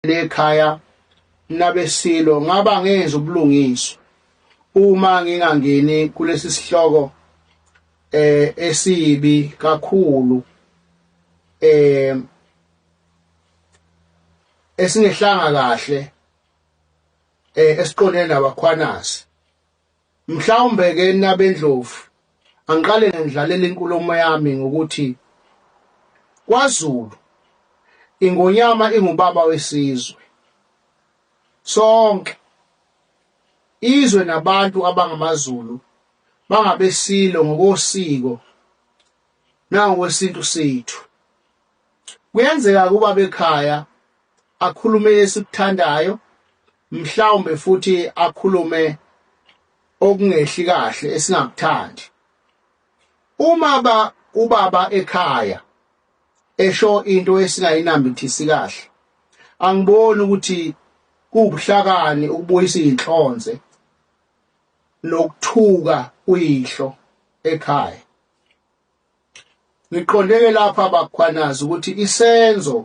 ekhaya nabesilo ngaba ngenza ubulungiswa uma ngingangeni kulesi sihloko eh esibi kakhulu eh esingehlanga kahle eh esiqondene nabakhwanasi Mhlawumbe-ke nabendlovu, angiqale ngandlalela inkulumo yami ngokuthi kwaZulu iNgonyama ingubaba wesizwe sonke. Izwe nabantu abangamaZulu bangabesilo ngokosiko nangokwesintu sethu. Kuyenzeka ukuba bekhaya akhulume esikuthandayo mhlawumbe futhi akhulume okungehli kahle esingakuthandi uma ba ubaba ekhaya esho into esingayinambithisi kahle angiboni ukuthi kuwubuhlakani ukubuyisa izinhlonze nokuthuka uyihlo ekhaya Ngiqonde-ke lapha baKhwanazi ukuthi isenzo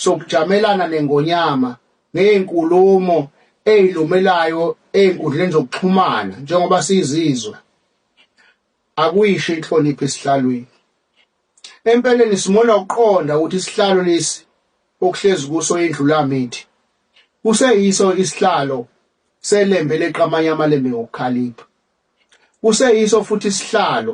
sokujamelana nengonyama ngeyinkulumo eyilumelayo ezinkundleni zokuxhumana njengoba sizizwe akuyishi inhlonipho esihlalweni. Empeleni simona ukuqonda ukuthi isihlalo lesi okuhlezi kuso indlulamithi kuseyiso isihlalo selembe leqamanye amalembe ngokukhalipha. Kuseyiso futhi isihlalo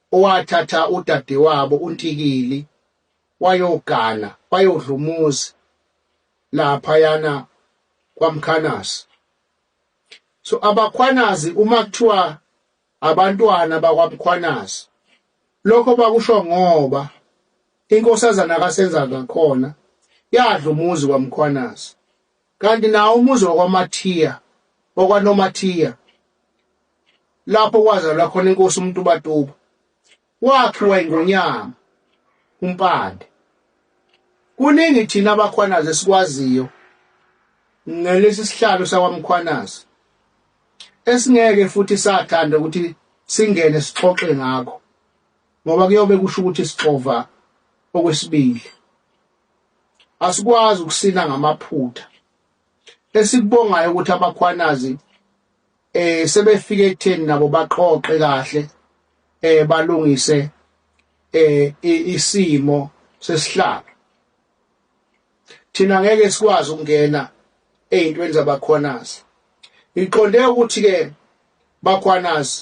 owathatha udadewabo uNtikili wayogana wayodla umuzi laphayana kwaMkhanazi so abakhwanazi uma kuthiwa abantwana bakwaMkhwanazi lokho bakusho ngoba inkosazana kaSenza ngakhona yadla umuzi kwaMkhwanazi Kanti nawo umuzi wakwaMathiya, wakwaNomathiya, lapho kwazalwa khona inkosi uMtubatuba, wakhiwa iNgonyama uMpande. Kuningi thina abakhwanazi esikwaziyo ngalesi sihlalo sakwaMkhwanazi esingeke futhi sathanda ukuthi singene sixoxe ngakho ngoba kuyobe kusho ukuthi sixova okwesibili Asikwazi ukusina ngamaphutha. Esikubongayo ukuthi abakhwanazi eh sebefike ekutheni nabo baqoqe kahle eh balungise eh isimo sesihlalo. Thina ngeke sikwazi ukungena ezintweni zabakhwanazi. Ngiqonde ukuthi ke bakhwanazi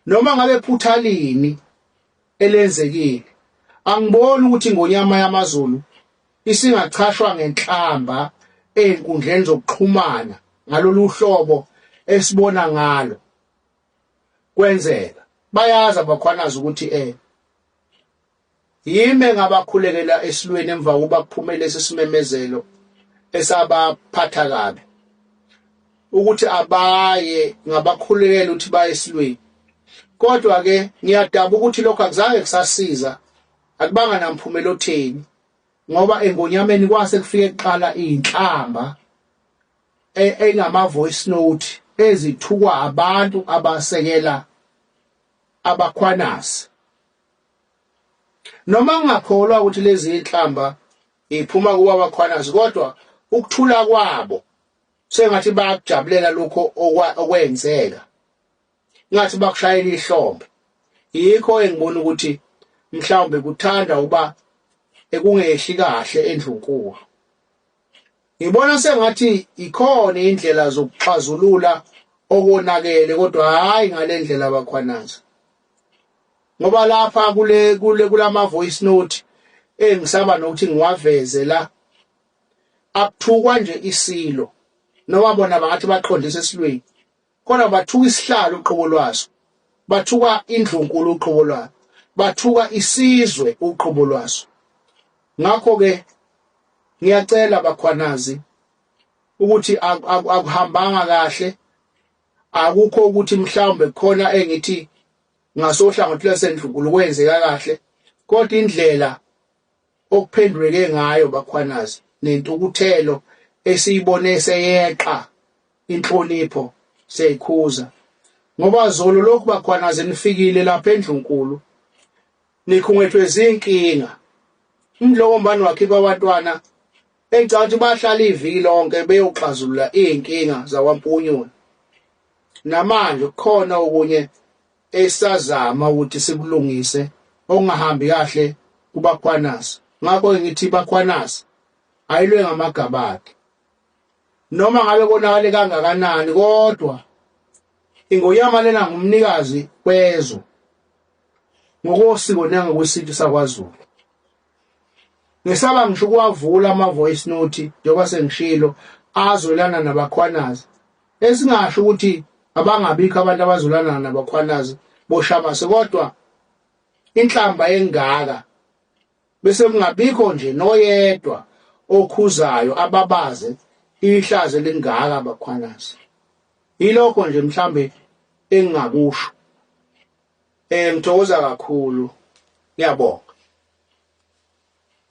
noma ngabe phuthalini elenzekile. Angiboni ukuthi ingonyama yamaZulu isingachashwa ngenhlamba ezinkundleni zokuxhumana ngalolu hlobo esibona ngalo kwenzeka. Bayazi abakhwanazi ukuthi eh yime ngabakhulekela esilweni emva kokuba kuphumele lesi simemezelo esabaphatha kabi. ukuthi abaye ngabakhulekela ukuthi baye esilweni kodwa ke ngiyadaba ukuthi lokho akuzange kusasiza akubanga namphumela otheni ngoba engonyameni kwase kufike kuqala inhlamba e-, engama voice note ezithukwa abantu abasekela abakhwanasi noma ngingakholwa ukuthi lezi inhlamba iphuma kuba abakhwanasi kodwa ukuthula kwabo sengathi bayakujabulela lokho okwenzeka ngathi bakushayela ihlombe yikho engibona ukuthi mhlawumbe kuthanda uba ekungehli kahle endlunkuwa ngibona sengathi ikhona indlela zokuxazulula okonakele kodwa hayi ngalendlela abakhwanaza ngoba lapha kule kule kulama voice note engisaba nokuthi ngiwaveze la akuthukwa nje isilo noma bona bangathi baqondisa esilweni kodwa bathuka isihlalo uqobo lwaso bathuka indlunkulu uqobo lwayo bathuka isizwe uqobo lwaso ngakho ke ngiyacela bakhwanazi ukuthi akuhambanga kahle akukho ukuthi mhlawumbe khona engithi ngasohlangothi lwasendlunkulu kwenzeka kahle kodwa indlela okuphenduleke ngayo bakhwanazi nentukuthelo esiyibone seyeqa inhlonipho seyikhuza ngoba zolo lokhu bakhwanazi nifikile lapha endlunkulu nikhungethwe zinkinga umdloko mbani wakhipha abantwana engicabanga ukuthi bahlala iviki lonke beyoxazulula izinkinga zakwaMpunyoni namanje kukhona okunye esazama ukuthi sikulungise okungahambi kahle kubakhwanasi ngakho ngithi bakhwanasi ayilwe ngamagabade noma ngabe konakale kangakanani kodwa ingoyama lena ngumnikazi kwezwe ngokosiko nangokwesintu sakwaZulu Ngisaba ngisho ukuwavula ama voice note njengoba sengishilo azolana nabakhwanazi. Esingasho ukuthi abangabikho abantu abazolana nabakhwanazi boshamase kodwa inhlamba engaka bese kungabikho nje noyedwa okhuzayo ababaze ihlaze lingaka abakhwanazi. Yilokho nje mhlambe engingakusho. Eh ngithokoza kakhulu. Ngiyabonga.